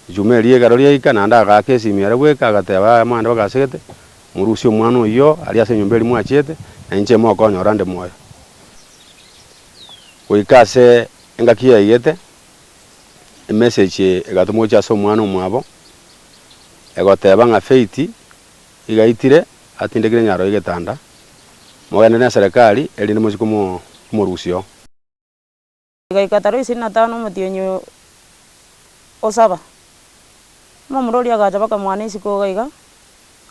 Ejuma eria ekero riaika, naende agaaka esimio ere bweka, agateba abamwande bagasegete, Morusie omwana oyio aria ase enyomba eria mwachiete, na inche imokonye ore onde moyo. Goika ase engaki yaigete, emessage egatoma gochia ase omwana omwabo, egoteba ng'a Faith igaitire atindekire nyaroo y'egetanda, mogende neserikari erinde mochie komo komorusia oo. Rigaika tara iseri na tano omotienyi o saba, omomura oria agacha baka mwane isiko iga iga,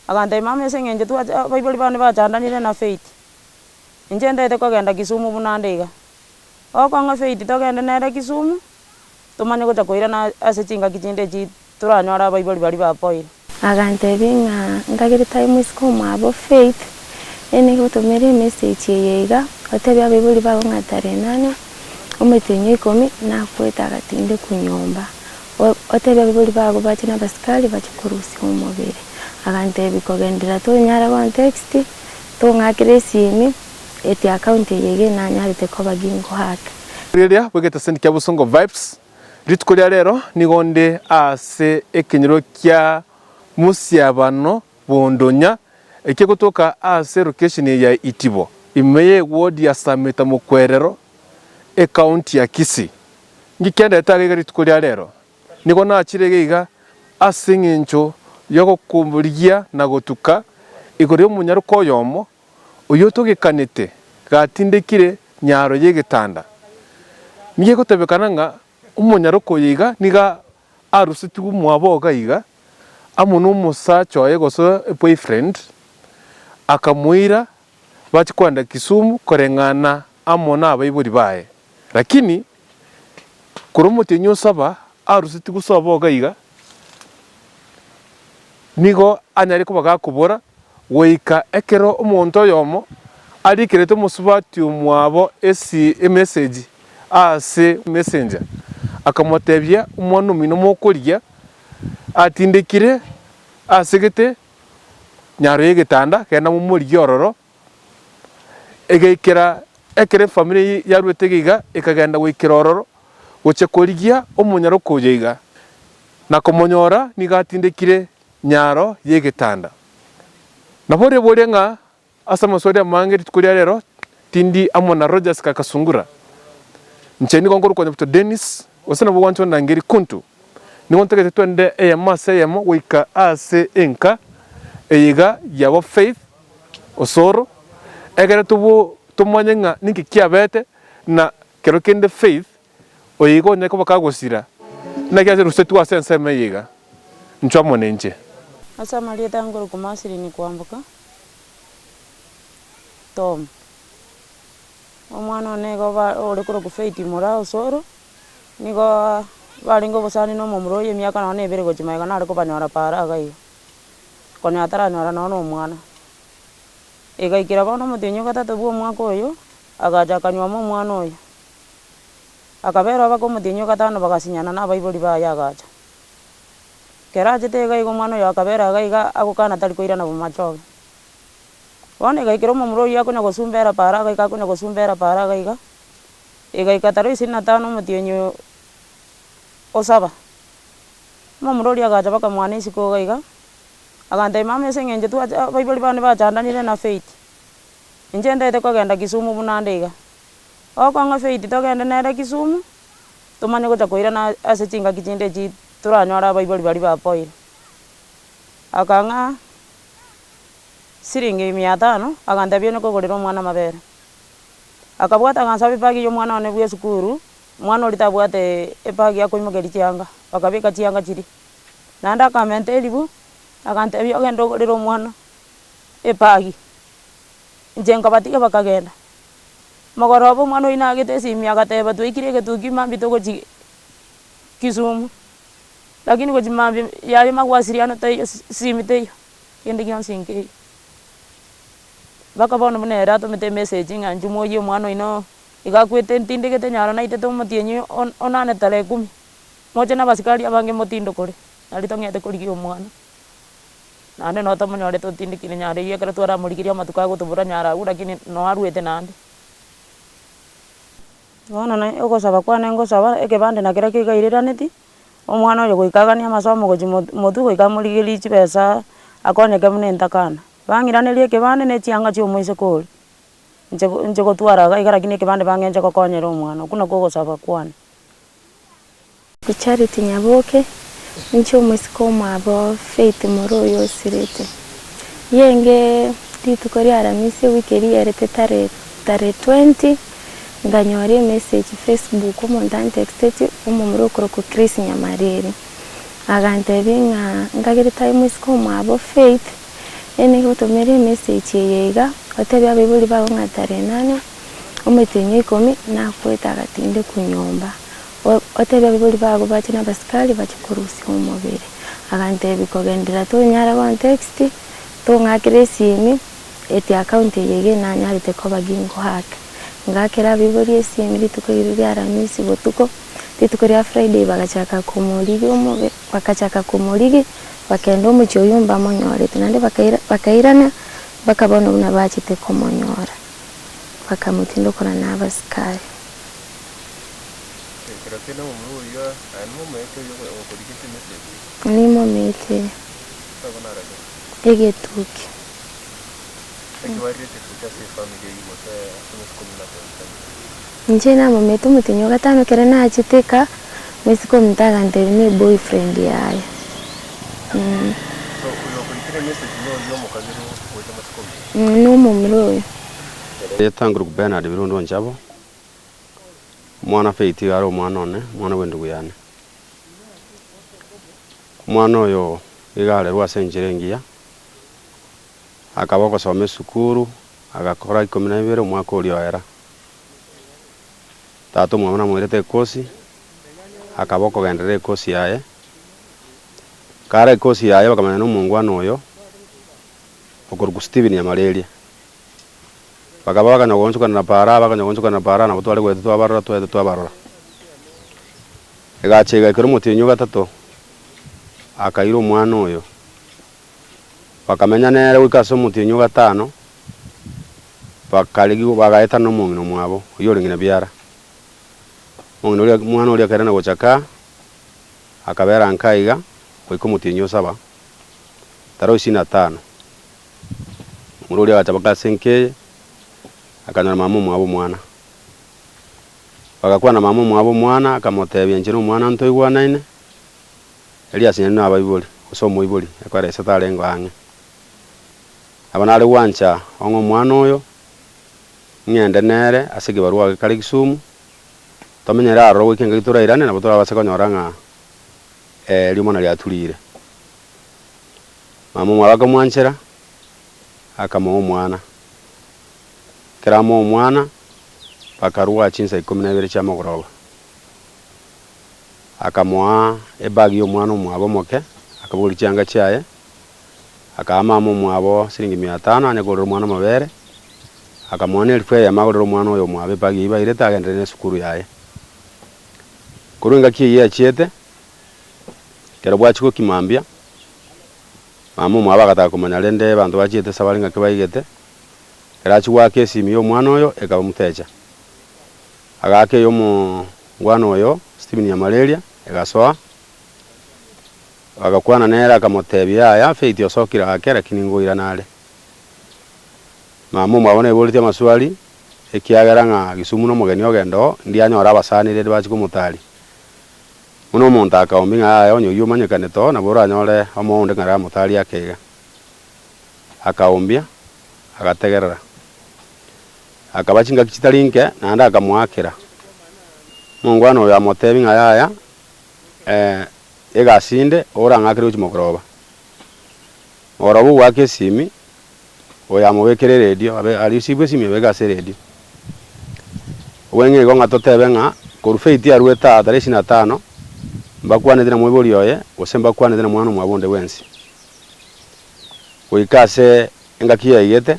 agantebia, Mama ase eng'encho twache abaibori bane bachandanire na Faith, inche ntaete kogenda Kisumu buna nde iga. Ogokong'a Faith togende nere Kisumu, tomanye gocha koirana ase chingaki chinde echi. Toranyore abaibori baria bapoire. Aganteebia ng'a ndagere tari moiseke omwabo Faith, ee nigo otomere emesegi eye iga, oteebie abaibori bago ng'a Tarenania, omoitienyi o ikomi, nakwete agatindekwa nyomba. Oteebie abaibori bago bache nabasikari bache korusia omobere. Aganteebia kogenderera tonyare gontext, tong'akere esiimi, eti account eye iga enanyarete koba ginkohaka. Riria bwegete sendi kia bosongo vibes. Rituko ria rero nigo nde aase ekenyoro kia mosiabano bw'ondonya, ekia gotoka aase lokesheni eye ya Itibo, ime y'egwodi ya Samita Mokwerero, ekaunti ya Kisii. Ngikenderete aria iga rituko ria rero, nigo nachire iga iga as'eng'encho y'ogokumburia na gotuka igoro y'omonyaroka oyomo, oyotogekanete gatindekire nyaro y'egetanda, nigo egotebekana ng'a omonyaroko oyo iga nigo arusetigwe omwabo oo gaiga, amo nomosacha oye gose eboyfriend, akamoira bache kogenda Kisumu koreng'ana amo nabaibori baye. Lakini Korwa omotienyi osaba arusetie gosoa boga iga, nigo anyare koba gakobora, goika ekero omonto oyomo arikerete omosubati omwabo emesegi ase Messenger, akamotebia, Omwana omino mokorigia atindekire asegete nyaro y'egetanda, genda momorigie ororo. Egaikera ekero efamiri yaruete geiga ekagenda goikera ororo gochia korigia omonyaroko oye iga, na komonyora nigo atindekire nyaro y'egetanda. Na boria boria ng'a ase amasu aria amange rituko ria rero tindi amo na Rogers kaka Sungura. Inche nigo nkorokwa Nyabuto Dennis, gose nabo ogwancha ondangeri Kuntu. Nigo ntagete twende eyemo ase eyemo goika aase enka eye iga y'aba Faith, Osoro, ekero tomanye ng'a ninki kiabete na kero kende Faith oyo iga onyare koba kagosira, naki ase rusetwe ase ensemo eye iga. Nchwa amo ninche. Ase amarieta ya nkoruku Masiri ni kwamboka, Tom. Omwana one iga ore korokwa Faith mora Osoro, nigo barenge obosani na omomura oyio emiaka nonya na ebere gochia magega nare kobanyora paara iga iga. konya ataranyora nonya omwana. Igaikera bono omotienyi ogatato bwa omwaka oyo, agacha akanyuoma omwana oyo, akabera obaka omotienyi ogatano bagasinyana na abaibori baye agacha. Ekero achete iga iga omwana oyo akabera iga iga agokana tari koirana bo machoge. Bono igaikera omomura oyio akonya gosumbera paaro iga iga akonya gosumbera paaro iga iga, igaika tarehe ishirini na tano omotienyi osaba. Omomura oria agacha bakamwana isiko iga iga, agantebia, Mama ase eng'encho twache abaibori bane bachandanire na Faith, inche ntaete kogenda Kisumu buna nde iga. Ogokora ng'a Faith togende nere Kisumu, tomanye gocha koirana ase chingaki chinde echi toranyore abaibori baria bapoire. Akang'a siringi mia tano, agantebia onya kogorera omwana amabere. Akabwata agasabe bag ya omwana one bw'esukuru, Omwana oria tabwate ebagi ya koimokeria chianga, bakabeka chianga chiria. Naende akamenta eribu, agantebia, Ogende ogorere omwana ebagi. Inche nkabatiga bakagenda. Mogoroba omwana oyio nagete esimi agateba, Twaikire egetugi maambia togochia Kisumu, lakini gochia maambia yaye mawasiliano taiyo, esimi teiyo, kende gionsi nkeiyo. Mpaka bono buna ere atomete emesegi ng'a inche moyie omwana oino. Igo akwete ntindegete nyaro naitete omotienyi o nane tara ekumi. Moche nabasikari abange motindokore, nari tong'ete korigia omwana. Naende no tomonyorete otindekire nyaro eyio ekero twaramorigerie amatuko agotobora nyaro agwo rakini no arwete naende. Bono naende ogosaba kwane ngosaba ekebande na kera keiga eiraraneti, omwana oyo goika aganie amasomo gochia mo motwe goika amorigerie chibesa akonyeke buna entakana. Bang'iraneria ekebande ne echianga chia omoiseke oria. inche inche gotwara iga iga rakini ekebande bang'e inche gokonyera omwana, okwo nakwo ogosaba kwane. Bi Charity Nyaboke, Inche omosike omwabo Faith Moro oyo osirete. Rienge rituko ria aramisi ewiki eria iyerete tare tare twenty, nkanyora emessage Facebook omonto antexteti omomura okorokwa Chris Nyamariri, agantebia ng'a nkagere tabe mosike omwabo Faith, Eena, igotomera emeseji eye iga, Oteebie abaibori bao ng'a tarehe nane omotienyi o ikomi nakwete agatindekwa nyomba. Oteebie abaibori bago bache nabasikari bache korusia omobere. Aganteebia, Kogenderera tonyare gontext, tong'akere esiimi eti account eye iga enanyarete koba ginkoake. Ngakera abaibori esiimi rituko erio ria aramisi botuko, rituko ria Friday bagachaka komorigia omobere. Bagachaka komorigia, bakenda omochie oyio mbamonyorete, naende bakairana, bakabona buna bachete komonyora, bakamotinda korwa nabasikari. Nimomeetie egetukia. Naki bariirete gocha ase efamiri eye igwo te ase omosike omonto atebisanetie? Inche namomete omotenyi o gatano ekero nachete eka, omosike omonto agantebia ne boyfriend yaye. So oyo okoitire emessage noyio omokabere ogocha omosike omonto? Na omomura oyo. Yetang'irwe Bernard Birundi o Nchabo, omwana Faith iga are omwana one, omwana bw'endugu yane. Omwana oyo iga arerwe ase enchera engiya. Akaba ogosoma esukuru, agakora ikomi na ibere omwaka oria o era. Tata omwabo namoirete ekosi, akaba okogenderera ekosi yaye. Kare ekosi yaye bakamanya na omongwana oyo okorokwa Stephen Nyamareria. Bakaba bakanya goonchokanera paraa, bakanya goonchokanera paraa nabo tware goeta twabarora, twaeta twabarora. Egacha egakera omotienyi o gatato, akaira omwana oyo bakamenya nere goika ase omotienyi o gatano, bakarigigwa, bagaetana nomong'ina omwabo, oyio orenge na biara. Omong'ina oria, omwana oria akairana gocha kaa, akabera nkaa iga goika omotienyi o saba, tara oisini atano. Omorwa oria agacha baka ase enka eye, akanyora mama omwabo omwana. Bagakwana mama omwabo omwana, akamotebia, inche nomwana ntoigwanaine. Elias nere nabaibori, gose omoibori, ekwera ise tarengeo ang'e. Nabo nare gwancha ong'e omwana oyo, ng'ende nere ase ekebarua age kare Kisumu, tomenyere aroro goika engaki torairane nabo torabase konyora ng'a riomana riaturire. Mama omwabo akamwanchera, akamoa omwana. Ekero amoa omwana, bakarua chinsa ikomi na ibere chiamogoroba. akamoa ebagi y'omwana omwabo omoke, akabogoria chianga chiaye, akaa mama omwabo siringi mia tano anye kogorera omwana amabere, akamoa nerifu eyemo agorere omwana oyo omwabo ebagi eyio bairete agenderere nesukuru yaye. Korwa engaki eyio eachiete, ekero bwachia gokima mbia, mama omwabo agataka komanya rende abanto bachiete ase bare ng'aki baigete, ekero achia goaka esimi y'omwana oyo ekaba motecha. Agaaka ey'omongwana oyo Stephen ya malaria egasoa, bagakwana nere akamoteebia, Yaya, Faith osokire aake, lakini ngoirana are. Mama omwabo naiboretie amaswali, ekiagera ng'a Kisumu nomogeni ogenda oo, ndianyore abasaanire erio bache komotaria. Buna omonto akaombi ng'a yaya onye oyio omanyekanete oo nabo oranyore omoyo onde ng'a amotarie ake iga. Akaombia. agategerera. Akaba chingaki chitari nke, naende akamoakera. Omongwana oyo amoteebia ng'a, Yaya, egasi inde, orang'akere gochia mogoroba. Mogoroba ogoaka esimi, oyo amobekera eredio, abe aria osiibwe esimi obeke ase eredio. Obweng'e igo ng'a toteebe ng'a korwa feti yarwete aa tarehe ishirini na tano, mbakwaneti na moibori oye, gose mbakwaneti na mwana omwabo onde bwensi. Goika ase engaki yaigete,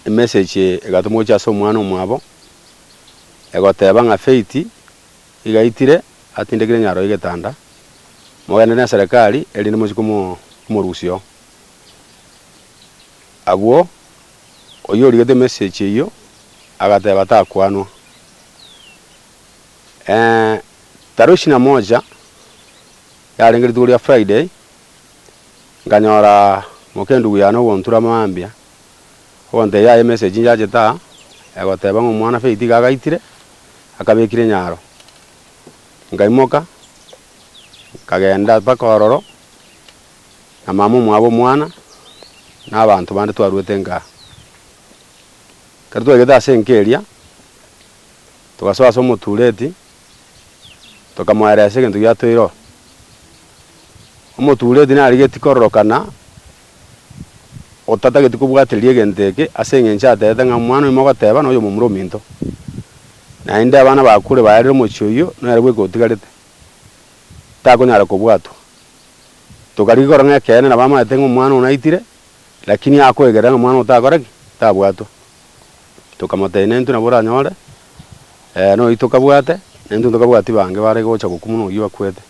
emesegi egatoma gochia ase omwana omwabo, egoteba ng'a Faith igaitire atindekire nyaroo y'egetanda, mogende ne serikali erinde mochie komo komorusia oo. Agwo oyio origete emesegi eyio agateba takwanwa. tarehe ishirini na moja yarenge rituko ria Friday. Nkanyora mokendugu yane ogontura mambia, ogontebia aya emessage nchachete aa, egoteba ng'a omwana Faith iga agaitire, akabekire nyaro. Nkaimoka, nkagenda mpaka ororo, na mama omwabo omwana, na abanto bande twarwete enka aa. Ekero twaigete ase enka eria, togasoa ase omotureti, tokamoeera ase egento giatoeire oo. Omotuureti narigetie kororokana, otatageti kobwatereria egento eke, ase engencho ateete ng'a omwana oyio mogoteeba noyo omomura ominto. Naende abana bakure baerire omochie oyio, nere bweka otigarete, takonyara kobwatwa. Tokarigia korora ng'a ekeene nabo amaete ng'a omwana oo naitire, lakini akoegerera ng'a omwana oo takora ki? Tabwatwa. Tokamotebia, Nintwe nabwo oranyore, ee, noyo tokabwate, nintwe ntokabwati bange bare gocha gokwa buna oyio akwete.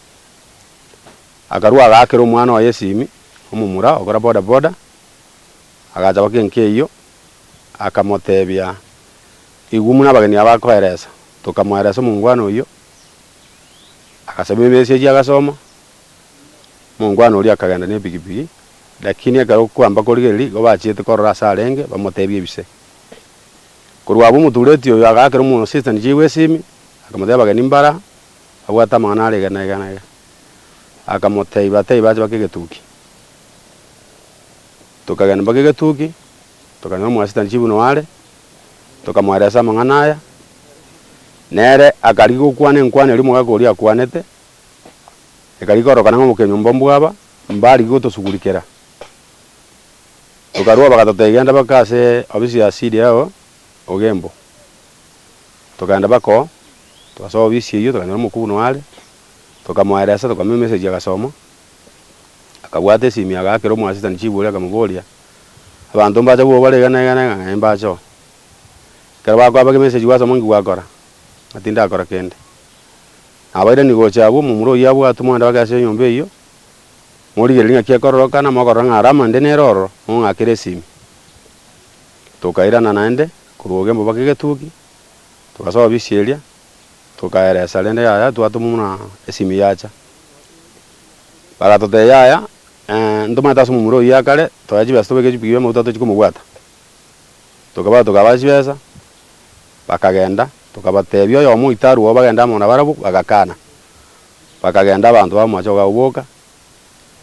Akarua agaakera omwana oye esimi, omomura ogokora bodaboda, agacha goika enka eyio, akamotebia, Igwa buna abageni aba bakoeresa. Tokamoeresa omongwana oyio, agasaba emesi ayio agasoma. Omongwana oria akagenda nepigipigi, lakini ekero okwamba korigereria, igo bachiete korora ase arenge, bamotebia ebise. Korwa abwo omotureti oyo agaakera omosesitani chiaigwa esimi, akamotebia abageni mbara, abwate amang'ana are iga na iga na iga. Akamotebia batebie bache bake egetuki. Tokagenda mpaka egetuki, tokanyora omosesitani chibuno are, tokamoeresia ase amang'ana aya, nere akarigia gokwana enkwana eria omogaka oria akwanete. ekarigia koroka nang'o mokenyomba mbwaba, mbarigia gotosugurikera. Tokarua bagatotebia genda baka ase obisi ya siri eye ogembo. Tokagenda baka oo, togasoa obisi eyio tokanyora omokubuni oo are, tokamoeresa tokamua emessage agasoma, akabwata esimi agaakera omoasistani chibori akamoboria, abanto mbacha bwoba bare iga na iga na iga, ng'a ee mbacha oo. Ekero bakoaba kemessage gwasoma inki gwakora? Ng'a tindakora kende. Nabairani gocha agwo, momura oyio abwatwe, moende bake ase enyomba eyio, morigererie ng'aki ekororokana, mokorora ng'a Rama inde nere ororo, mong'akere esimi. Tokairana naende korwa obogemba mpaka egetugi, togasoa bisi eria, tokaera esara ende yaya, twatoma buna esimi yacha. Bagatotebia yaya, ntomanyete ase omomura oyio akare, toe chibesa tobeke chipiguba y'amaguta tochie komobwata. Tokaba tokabaha chibesa, bakagenda. Tokabatebia oyomo oito arwao bagende amo nabarabwo, bagakana. Bakagenda abanto bamomachie kogacha goboka,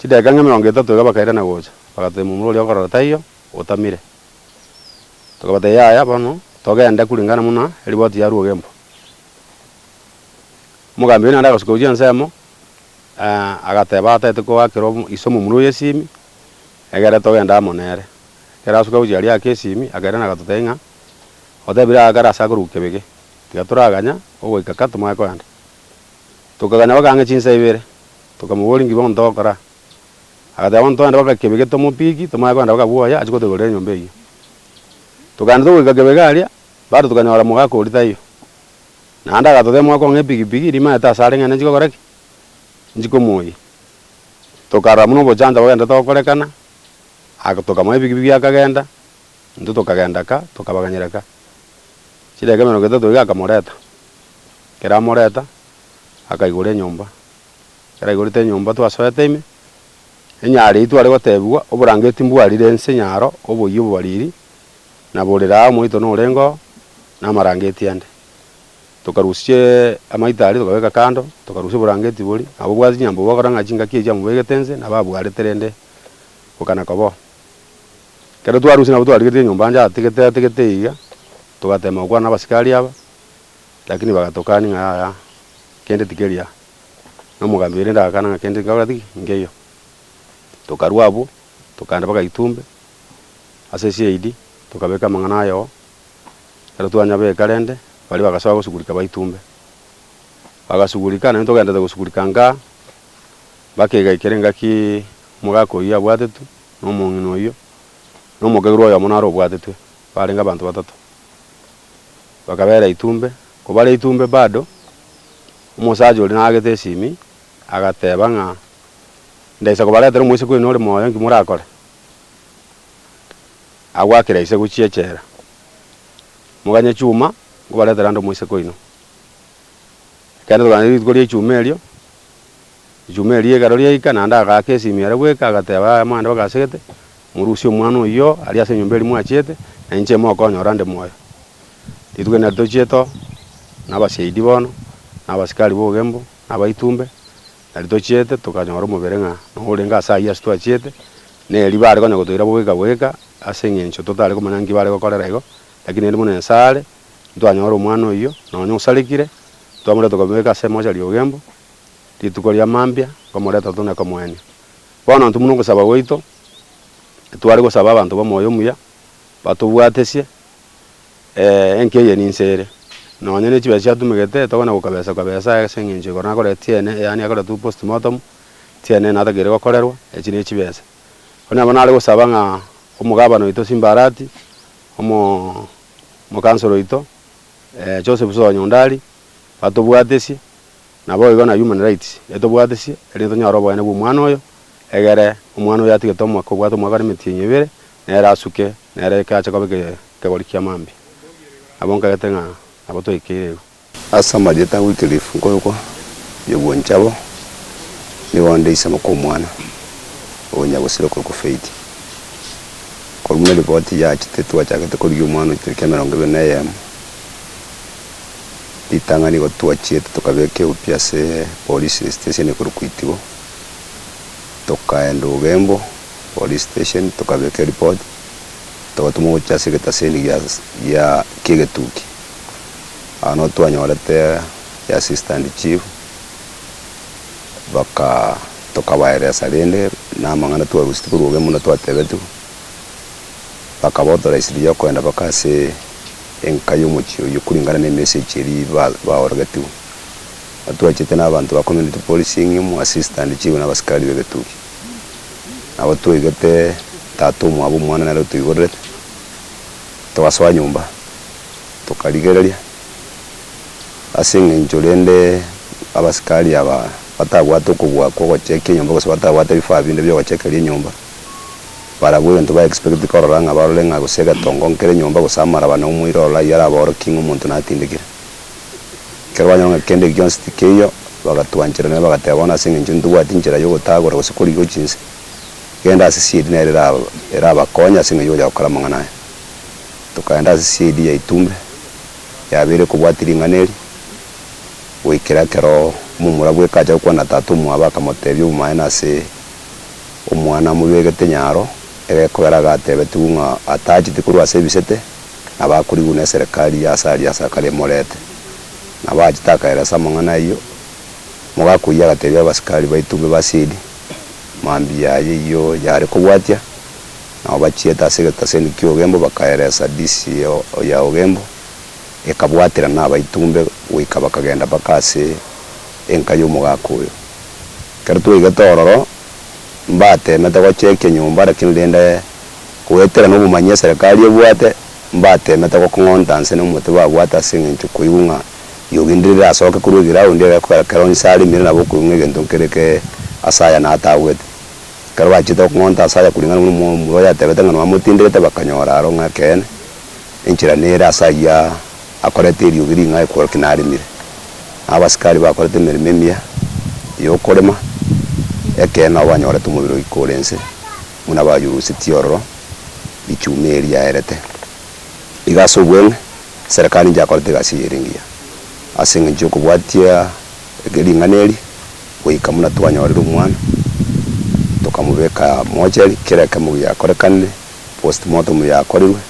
chidakika ng'a emerongo etato iga bakairana gocha, bagateba momura oria okorora taiyo, otamire. Tokabatebia yaya bono togende kuringana buna eriboti yarwa ogembwa. Omogambi oria naende agasoka gochia ensemo, agateba ataete koakera iso momura oyo esimi. Ekero togenda amo nere, ekero asuka gochia aria ake esimi, akairana agatotebia ng'a, Otebire aa kare ase akoruga kebege, tiga toraganya ogoika ka tomanye kogenda. Tokaganya mpaka ang'e chinsa ibere, tokamoboria ng'ai bono togokora aa. Agateba bono togende mpaka kebege tomopiki, tomanye kogenda mpaka bwoye achie gotoiborera enyomba eyio. Togaenda togoika kebege aria, bado tokanyora mogaka oria taiyo. Naende agatotebia mwakong'e epigipigi, rimaete asare ng'a nenchikogora ki? Nchikomoyie. Tokarora buna obochancha bogenda togokorekana, aka tokamoa ebigibigi akagenda, intwe tokagenda ka, tokabaganyera ka. Chidakika emerongo etato iga akamoreta, ekero amoreta, akaigora enyomba, ekero aigorete enyomba twasoete ime, onye aria tware gotebigwa oborangeti mbwarire ense onye aro, oboyia obobariri, naborera aa omoito norengeo, namarangeti ande. Tokarusia amaitaari, tokabeka kando, tokarusia oborangeti bori. Nabo obwate chinyambo bogokora ng'a chingaki echio amobegete nse, nabo abwarete rende gokana kobo. Ekero twarusia nabo twarigeretie enyomba ancha ategete ategete iga, togatema gokwana nabasikari aba, rakini bagatokani ng'a yaya kende tikeri aa. Na omogambi oye rende agakana ng'a kende nkagora tiki nkeiyo. Tokarua abwo, tokaenda mpaka Itumbe ase CID, tokabeka amang'ana ayoo, Ekero twanyabeka rende, baria bagasoa gosugurika baitumbe. Bagasugurika, naintwe togenderete gosugurika nka, mpaka egaikiera engaki omogaka oyio abwatetwe, na omong'ina oyio, na omokairwa oyomo naro obwatetwe, barenge abanto batato. Bakabera itumbe, kobara itumbe bado, omosacha oria naagete esimi, agateba ng'a, Ndaisa kobaretera omoiseke oino ore moyo, inki morakore? Agwo akera ise gochia echela. Moganye chuma, nkobaretera ande omoiseke oino. Ekeene togane rituko ria echuma erio, echuma erio ekero riaika, naende agaaka esimia ere bweka, agateba aya amang'ana bagasegete, morusie omwana oyio aria ase enyomba eria mwachiete, na inche imokonyora nde moyo. Rituko erinde tochiete oo, nabasyaidi bono, nabasikari bogembo, nabaitumbe. Na riria tochiete, tokanyora omobere ng'a nigo orenge ase ayio ase twachiete, na erio bare konya gotoira bweka bweka, ase engencho totari komanya nki bare gokorera igo, lakini rende buna Nyasae are, ntwanyora omwana oyio, nonya osarekire, twamoreta komobeka ase emochari y'obogembo, rituko ria mambia, komoreta tone komoenia. Bono intwe buna ogosaba gwaito, tware gosaba abanto b'omoyo omuya, batobwatesie. Ee, enki eye ninse ere. Nonya ne chibesa chiatumegete, tokwana gokabesa kabesa ase engencho igoro nakorete tiene, yaani akoretwe post mortem, tiene natagere gokorerwa, echi ne chibesa. Onye nabo nare gosaba ng'a omogabana oito Simbarati, omo omokansoro oito, eh, Joseph Soa Nyondari, batobwatesie, nabo igo na human rights etobwatesie, erinde tonyore oboene bwa omwana oyo, egere omwana oyo atigete omwaka obwate omwaka na emetienyi ebere. Nere asuke, nere eke ache koba ekegori kia mambia. Nabo nkarete ng'a nabo toikeire igo. Ase amarieta a Wycliffe nkoigwa nyobwanchwa abo nigo ndaisemwa kw'omwana o nyagosira okorokwa Faith. Korwa buna ripoti yachete twachakete korigia omwana oito tariki emerongo ebere na eyemo ritang'ani igo twachiete tokabeka eobi ase polisi station ekorokwa Itigo tokaenda Ugembo. Police station tokabeka eripot togatuma gochia ase egetaseni gia gia kiegetuki aa no twanyorete ya assistant chief baka tokabaeresa rende na amang'ana twarositie korwa obe muna twatebetiwe baka ba authorise riria okogenda baka ase enka ya omochie oyio kuringana na emessage eria ba baorogetiwe na twachete na abanto ba community policing imo assistant chief na abasikari ba egetuki. Nabo twaigete tata omwabo omwana nere otoigorerete, togasoa nyomba, tokarigereria, ase eng'encho rende abasikari aba batabwate okobua kwa ogochekia enyomba gose batabwate ebifaa binde bia ogochekeria enyomba, barabwo egento ba expect korora ng'a barore ng'a gose egetongo nkere nyomba gose amaraba na omoira ororo aye arabaorokie ng'a omonto natindekire. Ekero banyora ng'a kende eki gionsi tikeiyo, bagatwanchera nere, bagateba, Bono ase engencho nitobwati nchera y'ogotagora gose korigia chinse, genda ase CID nere erabakonye ase engencho y'ogocha gokora amang'ana aya. Tokaenda ase CID ya Itumbe, yabeire kobwati ring'ana eri, goikera ekero momura bweka acha gokwana na tata omwabo akamotebia obomaene ase omwana amobegete nyaro, egekogera agatebetigwe ng'a atacheti korwa ase ebisete, na bakorigwa neserekari ya Asaria ase akare emorete. Nabo agachete akaeresa amang'ana ayio, omogaka oyio agatebia abasikari baito be Basili, Mambia aya eyio yare kobwatia? Nao bachiete ase egetaseni ki'ogembo bakaeresa disi ya ogembo, ekabwaterana abaitombe goika bakagenda mpaka ase enka y'omogaka oyo. Ekero twaigete ororo, mbateemete gochekia nyomba, lakini rende. Goetera nobomani eserekari ebwate, mbateemete gokong'onta nse nomote babwate ase engencho koigwa ng'a yogenderere asoke korwa egiraundi egekogera kera onsi aremire nabo okoigwa ng'a egento nkere ke ase aya natagwete. Ekero bachiete gokong'onta ase aya koringana buna omomura oyatebete ng'a nwamotinderete bakanyora aro ng'a ekeene, enchera nere ase ayio akorete eriogi ring'ai korwa ki naremire. Na abasikari bakorete emeremo emiya y'okorema, ekeene nabo banyorete omobere oikore inse. buna bayurusetie ororo richuma eri riaerete. Iga ase obweng'e, Serikali inchakorete egasi eye ere engiya, ase engencho y'okobwatia ring'ana eri, goika buna twanyorire omwana, tokamobeka mochari, kera ekemo giakorekanire, postmortem yakorirwe,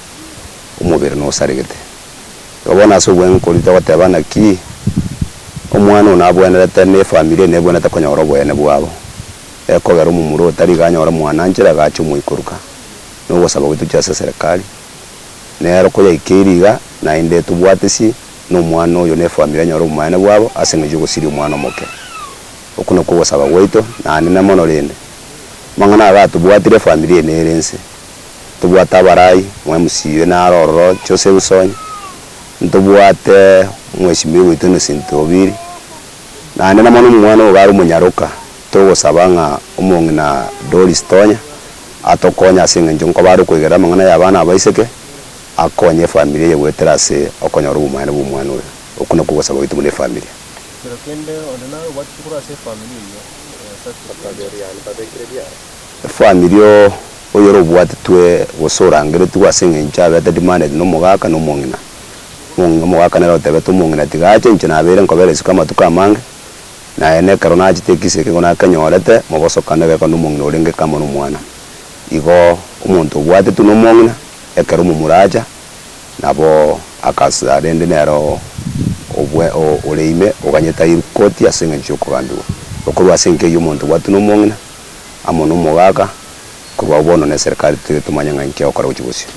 omobere nosaregete. Igo bono ase obweng'e koria togoteba naki, omwana oyo nabwenerete, na efamiri eye nebwenerete konyora oboyene bwabo. ekogera omomura oo tari ganyore mwananchera iga ache omoikoruka, na ogosaba gwaito chia ase eserekari. Nero koyaikeire iga, naende tobwatisi nomwana oyo na efamiri enyore obomanene bwabo ase engecho y'ogosiria omwana omoke. Okwo nakwo ogosaba gwaito, nanene mono rende. Amang'ana aya gatobwatire efamiri eye nere ense. Ntobwate abarai, mwa MC oyo naro ororoche ose Rusonya, ntobwate mweshimiwa oito Innocent Obiri, nanene mono omwana ogo are omonyaroka, Togosaba ng'a Omong'ina Doris Tonya atokonye ase engencho nkoba are okoigerera amang'ana y'abana abaiseke, akonye efamiri eye goetera ase okonyora obomanene bw'omwana oyo. Okwo nakwo ogosaba gwaito buna efamiri. Kero kende onde nare obwatete korwa ase efamiri eyio esati eria ase. Efamiri oyore obwatetwe gose orangeretigwe ase engencho abete demanded nomogaka na omong'ina. Omong'ina omogaka nere otebete omong'ina tiga ache inche nabeire nkobera isiko amatuko amange. Naye nekero nachete ekisii eke nigo nakenyorete, mobosokano egekone omong'ina orenge kamo nomwana. Igo omonto obwatetwe nomong'ina, ekero omomura acha, nabo akasira rende nere obwe ore ime oganyete airwe koti ase engencho y'okogambigwa. Igo korwa ase enka eyio omonto obwatwe nomong'ina, amo nomogaka, korwa agwo bono neserikari toire tomanye ng'a inki egokora gochia bosio.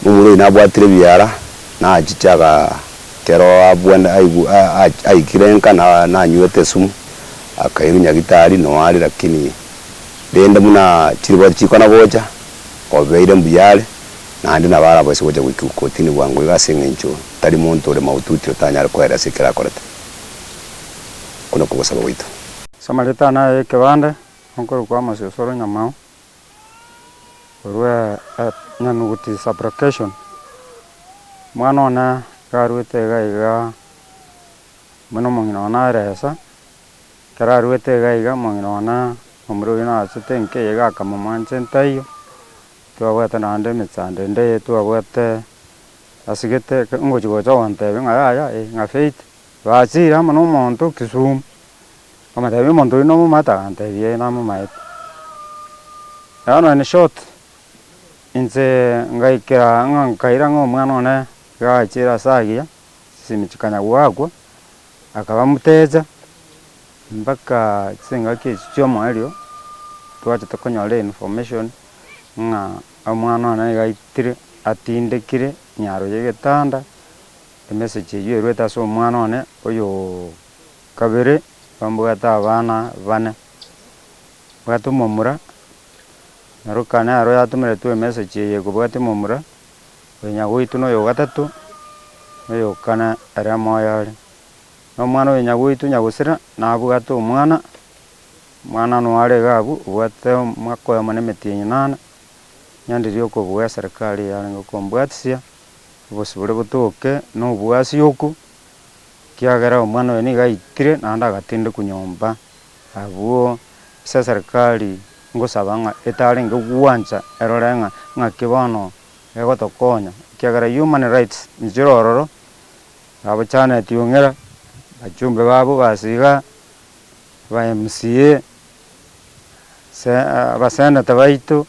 Momura oyio nabwatire ebiara, nachiche aga. Kero abwene aigu aikire enka na nanywete esumu akairwa nyagitari noari lakini rende buna chiribori chikona gocha obeire mbuya are naende nabo arabaise gocha goika kotini bwango iga ase eng'encho tari monto ore mahututi otanyare koera ase ekero akorete. Okwo nokwo ogosaba gwaito. Samaritan aye ekebande, okorokwa Amos Osoro Nyamao. Korwa enyanuguti sublocation, omwana one iga arwete iga iga buna omong'ina one are esa, ekero arwete iga iga omong'ina one omura oyio nagachete enka eye iga akamomwanchenta taiyo, twabwate naende emechando ende eye twabwate asigete ngochi gocha gontebia ng'a yaya eh ng'a Faith, bachire amo na omonto Kisumu. Nkamotebia omonto oyio nomomate? Akantebia ee namomaete. Nabo nonya in short, inche ngaikera ng'a nkaira ng'a omwana one iga agachire ase agiya, chisemi chikanya goakwa, akaba motecha, mpaka chingaki echi chi'omoerio, twachete konyora information ng'a omwana one iga aitire atindekire nyaro y'egetanda, emessage eyio eruete ase omwana one oyooo. Kabere bambwate abana bane, mbwate omomura, na Luka nero yatomeretwe emessage eye kobwate omomura, oyo nyagoitwe na oyogatato, na oyokana ere amoyo are. Na omwana oyo nyagoitwe nyagosira nabwate omwana, omwana noyo are iga abwo obwate omwaka oyomo na emetienyi inana, nyanderie okobua eserekari eye arenge kombwatisia, obosibore botoke, na oboasioku. Ekiagera omwana oyo nigo aitire naende agatindekwa nyomba, abwo ase eserikari ngosaba ng'a etarenge gwancha erore ng'a ng'aki bono egotokonya, ekiagera human rights nichire ororo, abachaneti ong'ira, abachumbe babo base iga, aba mca, se abaseneta baito,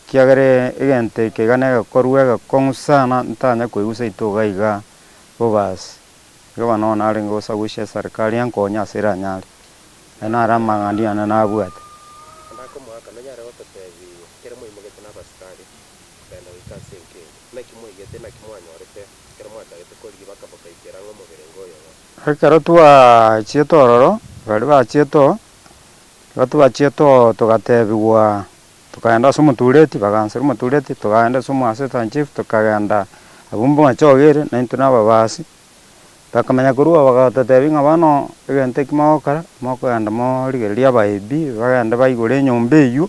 ekiagera egento eke iga negekorwa egekong'u sana ntitanya koigwa seito iga iga. Boaz, ekiagera nonya narenge gosagochia eserikari enke onye ase iranyare, aye nare amang'ana yane nabwate. Onde akomoaka, Nonyare gototeebia, ekero mwaimogetwe n'abasikari kogenda goika ase enka eye, naki mwaigete, naki mwanyorete, ekero mwatagete korigia baka bokaikera ang'e omoberenge oyo ng'a. Ekero twachiete ororo, baria bachiete oo, ekero twachiete oo togateebigwa, Tokaenda ase omotureti, bagaanchera omotureti, togaenda ase omoassistant chief, tokagenda abwo mbwamache ogo ere, na intwe nababaasi, bakamanya korwa agwo bagatotebia ng'a bono egento eki mogokora, mokogenda morigereria abaebi bagende baigure enyomba eywo,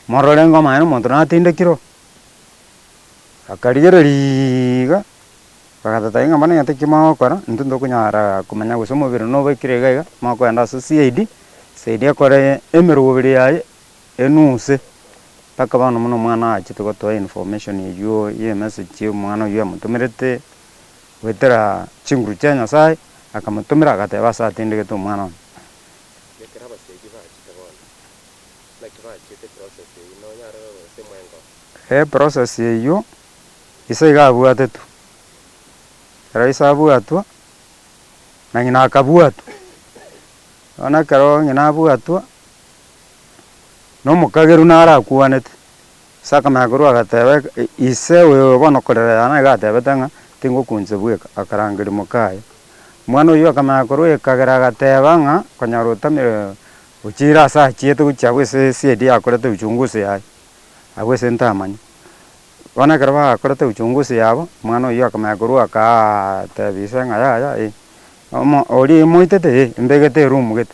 morore ng'a omonyene omonto natindekire oo. Bakarigereria iga, bagatotebia ng'a bono egento eki mogokora, intwe ntokonyara komanya gose omobere nobekire iga iga, mokogenda ase CID, CID ekore emeroberi yaye. enuse, mpaka bono buna omwana aachete gotoa information eywo ye emessage ye omwana oywo amotomerete, goetera chinguru chia Nyasaye, akamotomera agateba ase atindegete omwana one. Ekero abasegi baachete bono, naki baachete eprocess eywo? Nonyare ororo gose mwenga oo? Eprocess eywo, ise iga abwatetwe, ekero ise abwatwa, na ng'ina akabuatwa. Bono ekero ng'ina abwatwa, na omokageru naro akwanete. Ase akameakeru agateba ise oyo bono okorera yane nigo atebete ng'a tingokuanchia bweka, akarangeria mokaye. Mwana oyio akameakeru ekagera agateba ng'a konyara otamire ochire ase achiete gochia abwo ase esedi yakorete uchunguzi yaye, abwo ase ntamanya. Bono ekero bakorete uchunguzi yabo, mwana oyio akameakeru akaa tebia ise ng'a yaya eh, omo oria moitete eh, mbegete eromu gete.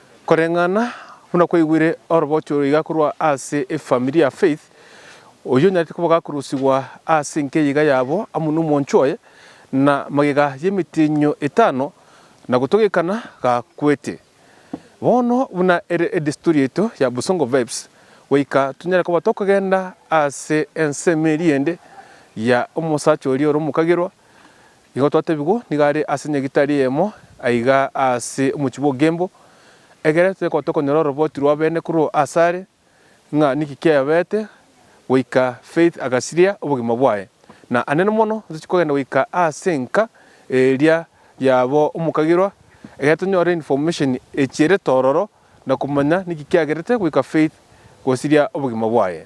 Koreng'ana buna kwaigwire orobocho iga korwa ase efamiri ya Faith, oyio onyarete kobogakurusigwa ase enkeya iga yabo amo n'omwancho oye, na magega y'emetienyo etano na gotogekana gakwete. Bono buna ere edesturi yaito ya Busongo Vibes, goika tonyare koba tokogenda ase ensemo eria ende ya omosacha oria ore omokagerwa, Nigo twatebigwa nigo are ase nyagitari eyemo aiga ase omochie bw'ogenbo, egere toikwa tokonyora oroboti rw'abene korwa ase are, ng'a niki kiayobeete goika Faith agasiria obogima bwaye. Na ande mono ntochie kogenda goika ase enka eria y'abo omokagirwa, egere tonyore information echierete ororo, na komanya niki kiagerete goika Faith gosiria obogima bwaye.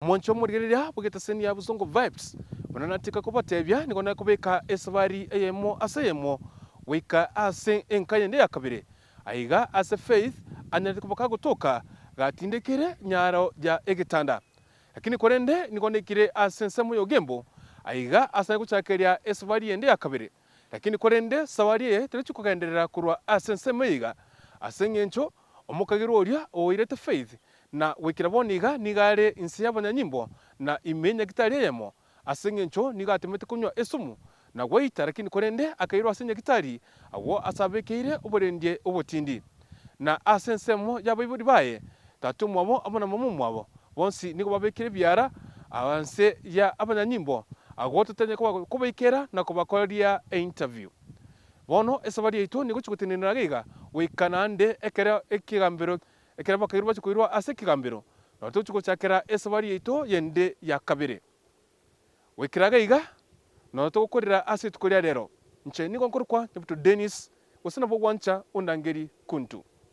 Omonche omorigereria abugete eseni ya Busongo Vibes buna natiga kobatebia nigo nakobeka esabari eyemo ase eyemo goika ase enka yende ya kabere. Aiga ase Faith anyarete koba kagotoka gatindekire nyaro ya egetanda. Lakini korende nigo naikire ase ensemo y'ogembo aiga ase naye gochakeria esabari yende ya kabere. Lakini korende sawari eye terechia kogenderera korwa ase ensemo eiga, ase engencho omokagirwa oria ogoirete Faith na goikera bono iga nigo are inse y'abanyanyimbo na ime nyagitari eyemo, ase engencho nigo atemete konywa esumu na gwaita, lakini korende akairwa ase nyagitari agwo ase abekeire oborendie obotindi. na ase ensemo y'abaibori baye Tata omwabo amo na Momo omwabo, bonsi nigo babekire ebiara aa nse ya abanyanyimbo agwo totanya koba kobaikera na kobakoreria e interview. Bono esabari yaito nigochia gotenenera gaiga goika naende ekero ekegambero ekero abakairu bachia koirwa ase ekegambero nabo togochia gochakera esabari yaito yende ya kabere. Goikeraga iga, nonya togokorera ase rituko ria rero, inche nigo nkorokwa Nyabuto Dennis, gose nabwo gwancha ondangerie Kuntu.